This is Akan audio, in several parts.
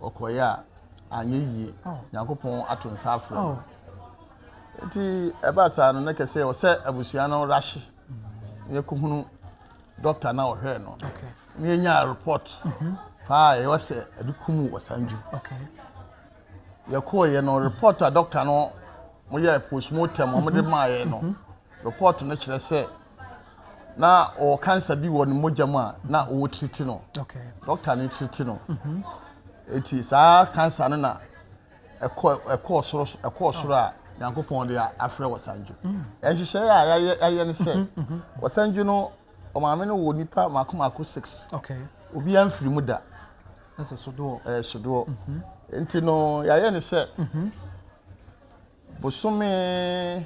Ɔkɔeɛ a, anyɛ yie. Nyankopɔn ato nsa afrɛ no. Oh. Nti ɛbaa saa no, na kɛ sɛ ɔsɛ abusua no rahye. Yɛkɔhunu dɔkta na ɔhwɛɛ no. Okay. Na yɛnyaa report mhm. paa a ɛwɔ sɛ ɛde kumu wɔ saa ndwu. Okay. Yɛkɔeɛ no, report a dɔkta no moyɛɛ postmortem wɔde mhm. maaeɛ no, mhm. report no kyerɛ sɛ Na na ɔwɔ cancer bi wɔ ne mogya mu a na ɔwɔ treat no. Doctor no treat no. Mhm. Eti saa cancer no na ɛkɔ ɛkɔɔ soro ɛkɔɔ soro a Nyankopɔn de afrɛ wɔ sanjo. Mm. Ɛnhyehyɛe a yɛayɛ yɛayɛ ne sɛ mhm, mhm. wɔ sanjo no ɔmaame no wɔ nipa mako mako six. Okay. Obi amfiri mu da. Ɛsɛ sodoɔ. Ɛyɛ sodoɔ. Nti no yɛayɛ ne sɛ bosome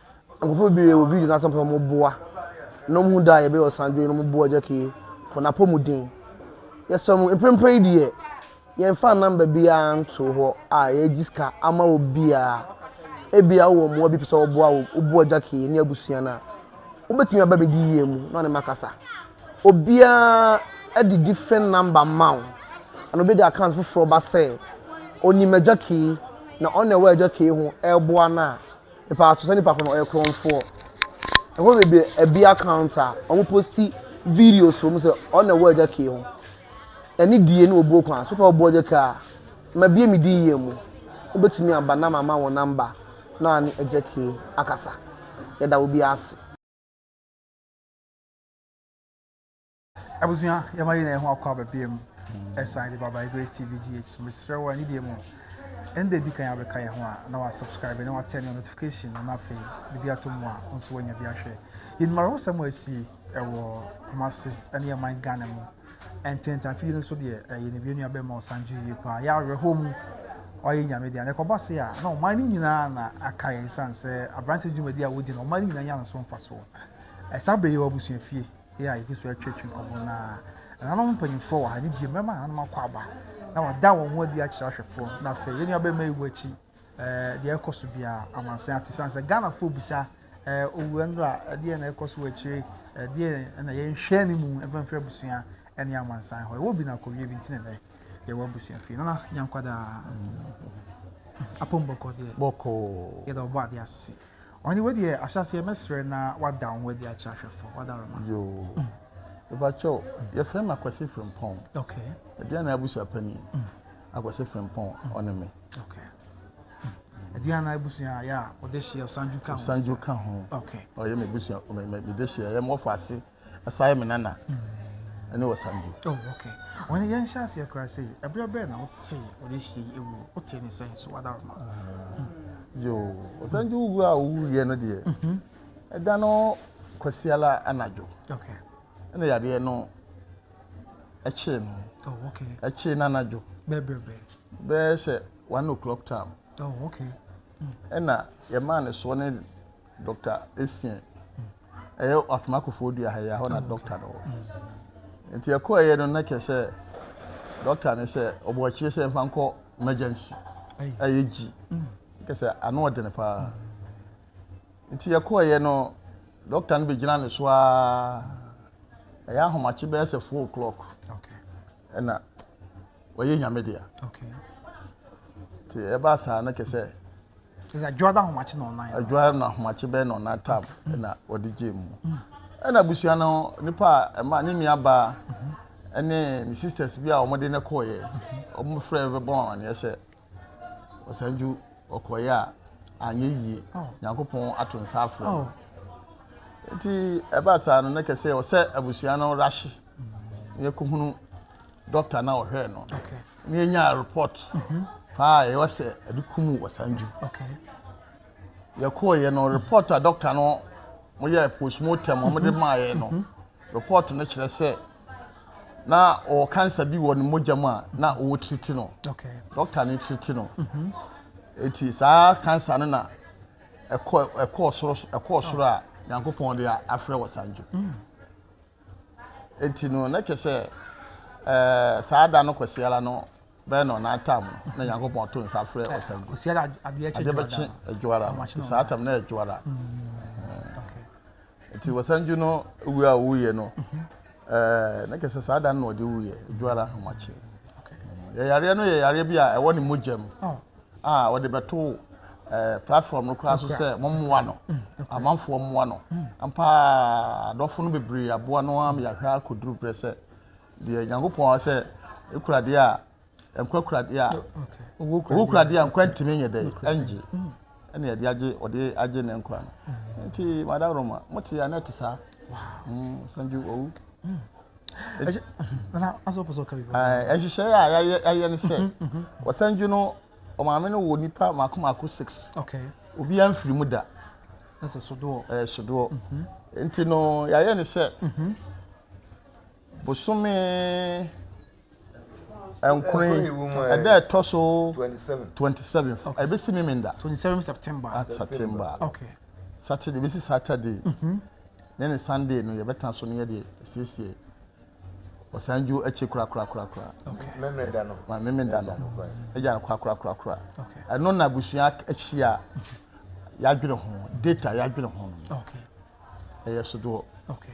Nkorɔfo beberee wɔ video no ase a wɔpɛ dɛ wɔboa na wohu dɛ a yɛbɛyɛ ɔsandwen no wɔboa Agya Kee for n'apɔmuden. Yɛsrɛ mo, mprempren yi deɛ, yɛmfaa number biara ntoo hɔ a yɛregye sika ama obiara. Ebia wowɔ mmoa bi a wopɛ sɛ wɔboa wo, woboa Agya Kee ne abusua no a, wobɛtumi aba me DIA mu na ɔne me akasa. Obiara de different number ma wo, anaa obi de account foforɔ ba sɛ ɔnim Agya Kee na ɔno na ɛwɔ Agya Kee ho reboa no a, Mepaa to sɛ nipa ko no ɔyɛ korɔnfoɔ. Ɛhɔ bebree ɛbi account a wɔn posti videos wɔn sɛ ɔna ɛwɔ ɛgya kee ho. Ɛne die ne obuo kwan so pɛ ɔbɔ ɛgya kee a mabie me din yie mu. Wobɛtumi aba na mama wɔn namba na ane ɛgya kee akasa. Yɛda obiara ase. Abusua, yɛma yɛn ho akɔ aba biam ɛsan de ba by Grace TV GH so. Mesrɛ wo anidie mu, ɛnda di kan abɛka yɛn ho a na wa subscribe na wa turn your notification no na afei biribi ato mu a wo nso wanya bi ahwɛ. Yɛnim awerɛhosɛm a asi ɛwɔ Kumasi ɛne ɛman Ghana mu. Ɛntɛntɛ afei no nso deɛ ɛyɛ ne bia nuabɛn ma ɔsan gye yie paa. Yɛ awerɛhoɔ mu ɔyɛ nyame deɛ na ɛkɔba se a na ɔman no nyinaa na aka yɛn san sɛ aberante dwumadi a wodi no ɔman no nyinaa nya no so mfasoɔ. Ɛsa bɛyɛ wɔ abusuafie. yɛ a yɛgu so retwetwe nkɔmmɔ no ara. Ɛnanom mpanimfoɔ wɔ ha, ne deɛ mmarima nananom akɔ aba, na wɔada wɔn ho adi akyerɛ ahwɛfoɔ no. Na afei, yɛn nuabarima yi wɔ akyi, ɛɛ deɛ ɛrekɔ so biara, amansan ate sane sɛ Ghanafoɔ bisa, ɛɛ owura nura, ɛdeɛ na ɛrekɔ so wɔ akyire, ɛdeɛ na yɛnhwɛ ne mu mfɛmfɛ abusua ne amansan hɔ. Ɛwɔ bi na akɔwie bi nti na ɛnɛ yɛwɔ abusua fie. Nana Nyankwadaa, apɔm bɔkɔ deɛ. Bɔkɔ. Yɛda ɔbɔ adeɛ ase. Ɔne wo deɛ ahyɛaseɛ mɛsrɛ na wada wo ho adi akyerɛ ahwɛfoɔ wada roma. Yoo. Ɛbakyɛ o, yɛfrɛ me Akwasi Frimpong. Okay. Aduane abusua panin. Mm. Akwasi Frimpong, ɔne me. Okay. Aduane abusua yɛ a ɔde hyeɛ sanju ka ho. Sanju ka ho. Okay. Ɔyɛ me busua, me de hyeɛ, yɛ mo ɔfɔ ase. Asai me nana ɛne ɔsandu. oh okay wɔn yɛn hyɛ aseɛ koraa sɛ yi ɛberɛ bɛɛ na wote wɔde hyɛ yi ewu wote ne sɛn so wada ɔma. yoo ɔsandu wu a owu yɛ no deɛ mhm. ɛda no kwasiala anadwo okay ɛna yadeɛ no ɛkyee no oh okay ɛkyee no anadwo bɛbrɛbrɛ bɛɛ sɛ one o'clock time oh okay ɛna yɛmaa ne soɔ ne Doctor Essien. Ɛyɛ Afena Kofoɔ Dua ha yi, ɛhɔ na doctor no wɔ. Nti ɛkɔɛyɛ no na kyerɛ sɛ doctor no sɛ ɔbɔ akyire sɛ mfa nkɔ emergency. Ɛyɛ gyi. Kyerɛ sɛ ano ɔdene paa. Nti ɛkɔɛyɛ no doctor no bɛgyina ne so ara. Ɛyɛ ahomakye bɛyɛ sɛ four o'clock. ɛna wɔyɛ nyame dea nti ɛbaa saa no kɛ sɛ adwoa da ahomakye na ɔnan adwoa na ahomakye bɛyɛ na ɔnan tam ɛna wɔde gyee mu mm. ɛna abusua no nipa a ɛma ne nua baa ɛne ne sisters bi a wɔde ne kɔɔyɛ wɔn frɛ bɛbɔ wɔn aneɛ sɛ ɔsan dwo ɔkɔeɛ a anyɛ yie nyankopɔn ato nsa afrɛ no nti ɛbaa saa no na kɛsɛ ɔsɛ abusua no rahye na yɛkɔhunu dɔkta na ɔhwɛɛ no na yɛnyaa report mhm. paa ɛwɔ sɛ ɛde kumu ɔsan dwo yɛkɔɔyɛ no report a dɔkta no moyɛ postmortem ɔmode mhm. maaeɛ no mhm. report no kyerɛ sɛ na ɔwɔ cancer bi wɔ ne mogya mu a na ɔwɔ treat no doctor ne treat no mhm. eti saa cancer no na ɛkɔ ɛkɔ soro ɛkɔ soro a nyankopɔn de afrɛ wɔ sanjo mm. eti no na kyɛ sɛ ɛɛ saa da no kɔsiara no bɛyɛ na ɔna atam no na nyankopɔn to nsa frɛ wɔ sanjo adeɛ bɛkye adwoara no saa tam na adwoara. Mm. Nti wɔsan gye no wu a wuyɛ no ɛɛ na kɛsɛ saa da no na ɔde wuyɛ edwo ara ahomakye. Yɛ yareɛ no yɛ yareɛ bi a ɛwɔ ne mogya mu oh. a ɔde bɛto ɛɛ eh, platform no koraa so sɛ mo mmoa no mm, amanfoɔ mmoa no mm. ampa adɔfo no bebree aboa no ama yɛahwɛ akɔduru berɛ sɛ deɛ nyankopɔn sɛ ekura deɛ a Nkwakurade a owukurade a nkwa ntumi nyɛ dɛ ɛngye ɛna yɛde agye ɔde agye ne nkwa no nti madam roma mote yɛ anɛ te saa sanju owu nhyehyɛe a yɛayɛ ne sɛ ɔsanju no ɔmaame no wɔ nipa mako mako six obi amfiri mu da ɛsɛ sodoɔ ɛyɛ sodoɔ nti no yɛayɛ ne sɛ bosome Nkuri, ɛda a ɛtɔ so twenty seven ɛbɛsi mimi da twenty seven september ah, september okay saturday ɛbɛsi saturday mm-hmm. ne ne sunday no yɛbɛtena so no yɛde siesie ɔsan ju akyi korakorakorakora memeda no ma memeda no agya no korakorakorakora ɛno na abusua akyi a yɛadwene ho data yɛadwene ho no ɛyɛ sodoɔ okay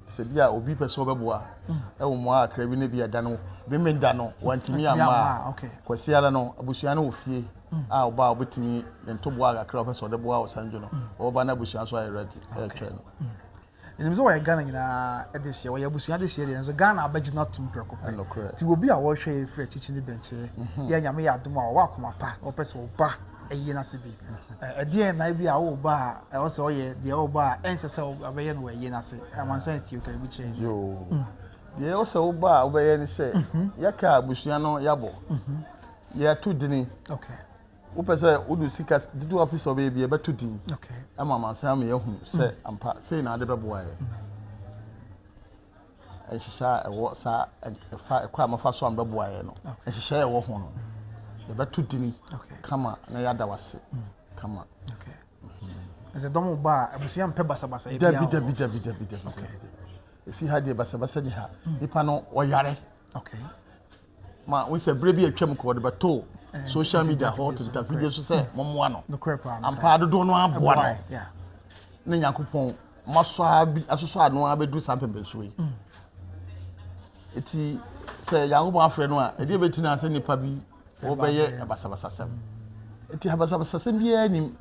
Sɛ bi a obi pɛ sɛ ɔbɛboa wɔ mmoa kakra bi na bi a da no Memeneda no wantumi amma a, Kwasi ara no abusua no wɔ fie a ɔba a ɔbɛtumi ne ntoboa kakra a ɔpɛ sɛ ɔde boa wɔ Sanjo no ɔbɛba na abusua nso ayɛ ready retwɛn no. Menim sɛ wɔyɛ Ghana nyinaa dehyeɛ, wɔyɛ abusua dehyeɛ deɛ nso Ghana abɛgye no atom prɛko pɛ. Nokorɛ. Nti wɔ bi a wɔrehwɛ yɛn firi akyikyi ne bɛnkyɛ, yɛ a Nyame yɛ adom a wɔwɔ akoma pa na wɔpɛ sɛ wɔba ayi no ase bi. Ɛdeɛn na ebi a wo ba a ɛwɔ sɛ ɔyɛ deɛ wo ba a ɛnsɛ sɛ ɔbɛyɛ no wɔ ayi no ase? Amansan atio ka ebi kyerɛ yɛn. Hmm. Deɛ ɛwɔ sɛ wo ba a wobɛyɛ ne sɛ mhm. yɛka abusua no yɛabɔ mhm. yɛato dini. Wopɛ sɛ wode sika dodoɔ afi sɛ ɔbɛyɛ bi yɛbɛto din ama amansan ma yɛahunu sɛ hmm. ampa sei na ade bɛboa yɛ. Hmm. nhyehyɛɛ a ɛwɔ saa ɛfa ɛkɔ a mafa so a mbɛboa yɛ no nhyehyɛɛ ɛwɔ ho no yɛbɛto dini kama na yɛada wase kama. ɛsɛ dɔm wo ba a abusua mpɛ basabasa ebi dabi dabi dabi dabi dabi efi ha deɛ basabasa ni ha hmm. nipa no ɔyare. Okay. ma wohu sɛ berɛ bi a atwam kɔ wɔde bɛtoo social media hɔ tenta video so sɛ mommoa no ampaa dodoɔ no aboa no ne nyankopɔn masɔ a bi asosɔ ano a bɛduru saa mpɛmpɛnsoɔ yi ɛti mm. sɛ nyankopɔn afrɛ no a ɛdeɛ bɛti no a sɛ nnipa bi wɔbɛyɛ basabasasɛm ɛti basabasasɛm biara nim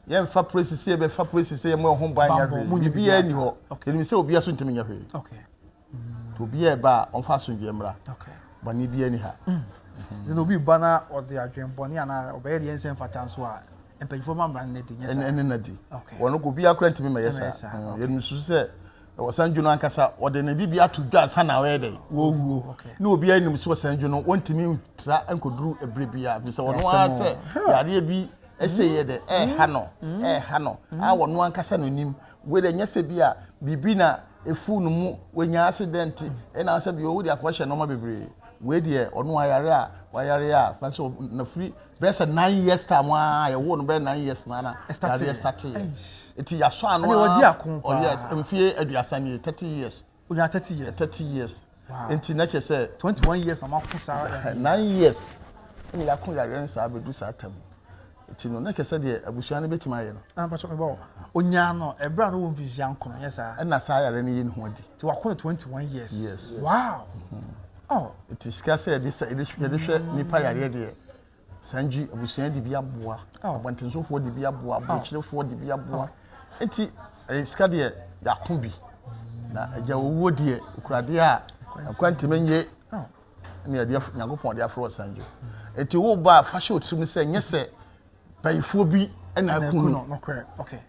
yɛmfa presi sɛ yɛbɛfa presi sɛ yɛmɔ ɛho ban nyɛ hwee biribiara ni hɔ ɛnim sɛ obiara so ntumi nyɛ hwee nti obiara ɛba a ɔmfa asomdwoeɛ mmra bɔne biara ni ha sɛ obi ba na ɔde adwene bɔne anaa ɔbɛyɛ deɛ nsɛ mfata nso a mpanyinfoɔ ma mmara no nadi nyɛ saa ɛne nadi wɔn kɔ obiara kora ntumi mɛyɛ saa yɛn nso sɛ wɔsan dwo no ankasa wɔde ne bibi ato dwa ansa na ɔyɛ dɛ wɔwuo ne obiara nim sɛ wɔsan dwo no wɔntumi ntra nkɔduru ɛberɛ biara bi sɛ wɔn ara sɛ yareɛ bi ɛsɛ yɛ dɛ ɛɛha no ɛɛha no a wɔn ankasa no nim Wei deɛ nyɛ sɛ bi a biribi na ɛfuu no mu wanya accident ɛna sɛ bi ɔwode akɔhyɛ nnoɔma bebree wei deɛ ɔno ayare a wayare a fa sɛ na firi bɛyɛ sɛ nine years time a yɛwoo no bɛyɛ nine years na na yareɛ starteeɛ ɛti yɛasɔ ano a oh yes mfie aduasa nie thirty years Onyaa thirty years. Thirty years. Wow. Nti na kyerɛ sɛ. Twenty one years na mako saa. Nine years. Ɛna yako yareɛ no saa abɛdu saa tam. Nti no na kyerɛ sɛ deɛ abusua no bɛtumi ayɛ no. Na mpatwa mebɔ hɔ. Onyaa no ɛberɛ a no wɔ mfirihyia nkono yɛ saa. Ɛna saa yareɛ no yɛ ne ho adi. Nti wako no twenty one years. Yes. Wow. Mm-hmm. Oh. Nti sika sɛ yɛde hwɛ nipa yareɛ deɛ. Sangye abusua de bi aboa, abɔntensofoɔ de bi aboa, aburokyerefoɔ de bi aboa. Eti ɛyɛ sika deɛ yɛako bi. Na agya owuo deɛ okuradeɛ a ɛkwan ntumi nye ne adeɛ Nyankopɔn de afrɛ wɔ sangye. Eti wo ba a fa hyɛ wo tirim sɛ nyɛ sɛ bayifoɔ bi na ɛko no.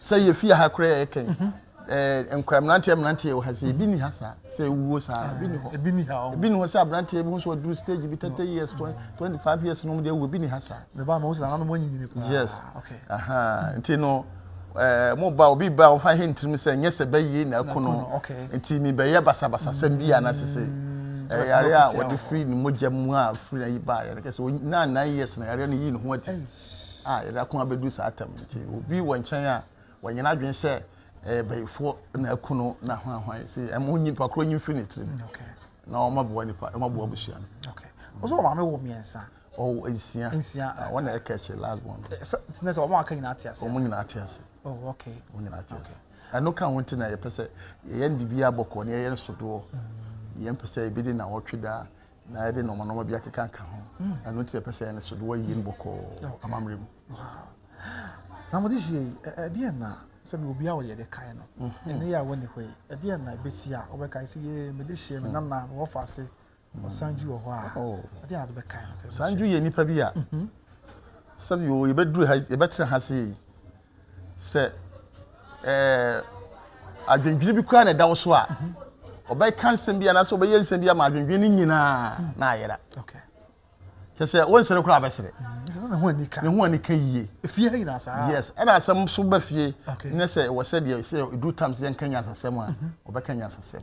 Sɛ yɛfie ha koraa yɛkɛn. ɛɛ nkora mmeranteɛ mmeranteɛ wɔ ha sɛ ebi ni ha saa sɛ ewuo saa ebi ni hɔ ebi ni ha ebi ni hɔ sɛ aberanteɛ bi ho so ɔduru stage bi thirty years twenty five years nom deɛ ewu ebi ni ha saa. mɛ ba ma o sɛ nana mo nyinyini paa. yes okay aha nti no ɛɛ mo ba obi ba ɔfa he ntirim sɛ nyɛ sɛ bɛyie na ɛko no okay nti mi bɛyɛ basabasa sɛm bi a na sese ɛyare a wɔde firi ne mogya mu a firi na yi ba yɛrɛ kɛ sɛ na nine years na yɛrɛ no yi ne ho ati a yɛrɛ ako abɛdu saa tam nti obi wɔ nkyɛn a. Wanya n'adwene sɛ ɛyɛ bayifoɔ na aku no na hwanhwan sɛ ɛma ɔnyi nipa korɔ nyi mfiri ne tirim na ɔmaboa nipa ɔmaboa abusua no. Ɔsɛ wɔn maame wɔ mmiɛnsa. Ɔwɔ nsia. Nsia. Wɔn na ɛka akyire last born. Sɛ sɛ sɛ wɔn aka nyinaa te ase. Wɔn nyinaa te ase. Oh okay. Wɔn nyinaa te ase. Ɛno ka ho nti na yɛpɛ sɛ yɛyɛ no biribi abɔkɔ na yɛyɛ no sodoɔ. Yɛn pɛ sɛ ebi de na wɔtwe daa. na yɛde nɔɔma nɔɔma bi akeka nka ho ɛno nti yɛpɛ sɛ ɛne so de wɔayie no bɔkɔɔ amammerɛ mu na mode hyɛ yi ɛdeɛ na sɛ me obi a wɔyɛ de kae no mhm. ɛne yɛ a wɔne hɔ yi ɛdeɛ na ɛbɛsi a wɔbɛkae sɛ yɛ mede hyɛ me mhm. nana wɔfa ase mhm. ɔsan dwu wɔ hɔ a oh. ɛdeɛ na de bɛkae no san dwu yɛ nnipa bi a sɛbi o yɛbɛduru ha yɛbɛtena ha sei sɛ ɛɛ adwendwene bi koraa na ɛda wo so a mhm. ɔbɛka nsɛm bi anaasɛ ɔbɛyɛ nsɛm bi ama adwendwene no nyinaa mhm. na ayera kyɛ sɛ wonsere koraa bɛsere mhm. ne ho ani ka yie yes ɛna asɛm so ba fie ne sɛ ɛwɔ sɛ deɛ sɛ ɛduru tam sɛ yɛnka nyansasɛm a ɔbɛka nyansasɛm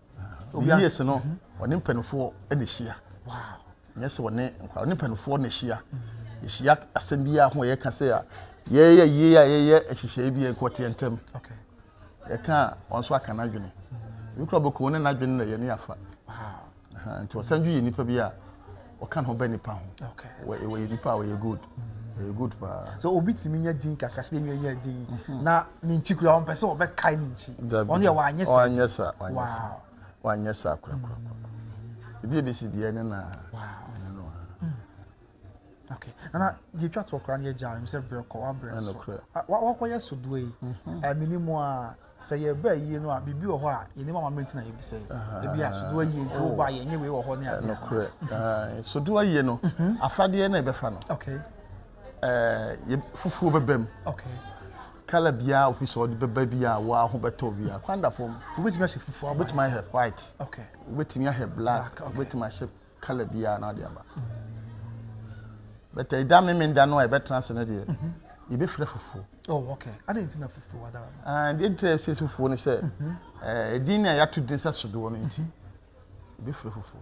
Obi yie se no, ɔne mpanimfoɔ na ɛhyia. Nyɛ sɛ ɔne nkwadaa, ɔne mpanimfoɔ na ɛhyia. Ɛhyia asɛm bi a ho a yɛka sɛ a yɛyɛ yie a yɛyɛ nhyehyɛe bi a nkɔteɛ ntɛm. Yɛka a wɔn nso aka n'adwene. Ebi kura bɔkɔɔ ne n'adwene na yɛne afa. Nti ɔsan dwo yɛ nipa bi a ɔka ne ho bɛ nipa ho wɔyɛ nipa a wɔyɛ good ɛyɛ good paa. sɛ obi tumi nya din kakra sɛ ɛnua nya din mhm. na ne nkyi kura wɔn pɛ sɛ wɔbɛ kae ne nkyi wɔn yɛ wɔanyɛ sa wɔanyɛ sa wɔanyɛ sa wɔanyɛ sa korakora mm. ebi ebi si bia ne na mm. okay nana deɛ etwa to ɔkora ne yɛ gya ɛmu sɛ brɛ kɔ wabrɛ so wakɔyɛ so doa yi ɛmini mu a. sɛ yɛba ayie no a biribi wɔ hɔ a yɛnim amammerɛ nti na yɛbisa yi ebi a sodoɔ ayie nti wobɔ ayɛ nyɛ wei wɔ hɔ ne adeɛ nokorɛ mhm. sodoɔ ayie no mhm. afadeɛ na ɛbɛfa no fufuo bɛba mu kala biara ofi sɛ ɔde bɛba bi a wɔa ho bɛtɔ bi a kwanda fam wobɛtumi ahyɛ fufuo wobɛtumi ahyɛ white wobɛtumi ahyɛ black wobɛtumi ahyɛ kala biara na ɔde aba bɛtɛ ɛda memenda no a ɛbɛtena ase no deɛ mhm. yɛbɛfira fufuo oh, ah, deɛ nti ɛsɛ fufuo no sɛ mhm. eh, ɛdin no a yɛato din sɛ sodoɔ no nti mhm. yɛbɛfira fufuo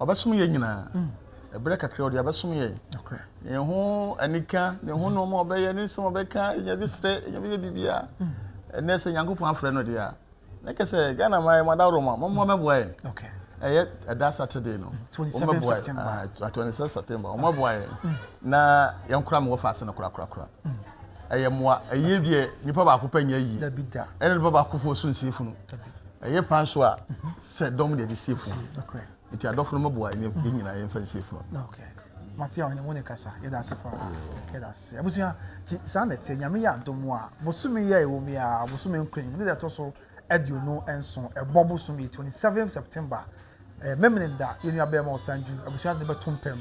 Ɔbɛsom yɛn nyinaa. Ɛberɛ kakra ɔde abɛsom yɛn. Ne ho anika, ne ho nneɛma a ɔbɛyɛ, ne nsɛm a ɔbɛka, yɛn bi srɛ, yɛn bi yɛ biribiara. Ɛnɛ sɛ Nyankopɔn afrɛ no deɛ a, na kɛ sɛ Ghana ma yɛ ma daworo ma, mɔmɔ mɛboa yɛn. Ɛyɛ ɛda Saturday no. Ɔmɛboa yɛn. 27 September. Ɔmɛboa yɛn. Na yɛn kora mewɔ faase no kora kora kora. Ɛyɛ mmoa. Ɛyɛ deɛ nipa baako pɛ nyɛ yie. Ɛna nipa baako foɔ so nsie funu. Ɛyɛ pan so a, Sɛ dɔm deɛ de si afunu. Nti adɔfo no mɛboa yɛn yɛn nyinaa yɛn fa nsi afunu. Mate a ɔne wo ne kasa yɛda ase paa yɛda ase abusua ti saa na ɛteɛ nyame yɛ adom a bosome yɛ ɛwɔ mu a bosome nkran mu ne deɛ ɛtɔ so aduonu nso ɛbɔ bosome 27 September ɛyɛ mɛmene da yɛnua bɛrima ɔsanju abusua de bɛto mpam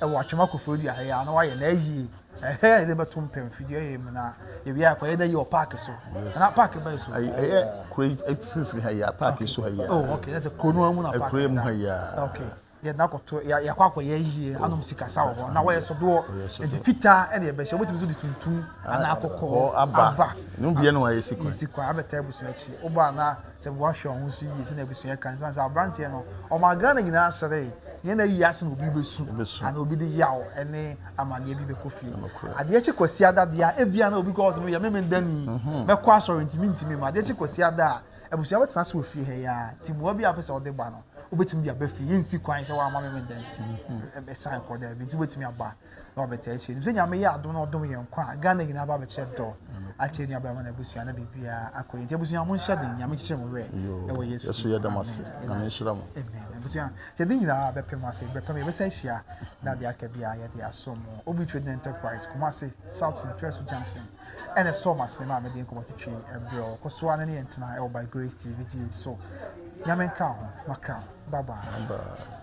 Ɛwɔ atwam akoforo dua ha yi a na wayɛ na ayie. Ɛhɛ a yɛde bɛto mpɛn fidua yɛ mu na yɛwie a kɔyɛ dɛ yɛ wɔ paaki so. Ana paaki bɛn so? Ɛyɛ kuro yi mfimfini ha yi a paaki so ha yi a. Oh okay na sɛ kuro no mu na paaki. Kuro yi mu ha yi a. Okay yɛde no akɔto yɛakɔ akɔyɛ ayie oh, anom sikasa wɔ hɔ na wɔyɛ sodoɔ nti fitaa ɛna yɛbɛhyɛ wobɛtumi nso de tuntum anaa kɔkɔɔ aba. Ne mu biara na wɔayɛ sikwa. Sikwa abɛtaa abusua akyi wobɔ anaa Sɛ woahwɛ wo ho so yie sɛnea abusua ka no ɛsiane sɛ aberanteɛ no ɔmaa Ghana nyinaa seree neɛ na ayi ase na obi bɛsu anaa obi de yaw ne amaneɛ bi bɛkɔ fie adeɛ kye kwasiada deɛ a ebia na obi kɔ hɔ sɛ meyɛ meme dani mɛkɔ asɔre nti mentumi ma adeɛ kye kwasiada a abusua bɛtena ase wɔ fie ha yi ara nti mmoa bi a wopɛ sɛ wode ba no wobɛtumi de aba fie yɛnsi kwan sɛ woama meme dani ɛsan kɔ daabi nti wobɛtumi aba na wɔbɛtaa ahyia. Nim sɛ Nyame yɛ adom na ɔdom yɛn nkwa a Ghana nyinaa ba bɛkyerɛ dɔ akyerɛ nua bɛrima na abusua na biribiara akɔ yɛn nti abusua mo nhyɛ den Nyame nkyekyere mo werɛ ɛwɔ Yesu Yesu yɛ dɛm ase Nyame nhyira mo Amen abusua sɛ de nyinaa bɛpem ase bɛpem yɛbɛsa ahyia na de aka biara yɛde aso mo Obi Trading Enterprise Kumasi South Central Junction Ɛna ɛsɔɔ m'asene maa mede nkɔmmɔ twetwee ɛberɛ a ɔkɔ so ara ne yɛn tenaa ɛwɔ By Grace TV gye so. Nyame nka ho, makra. Bye bye.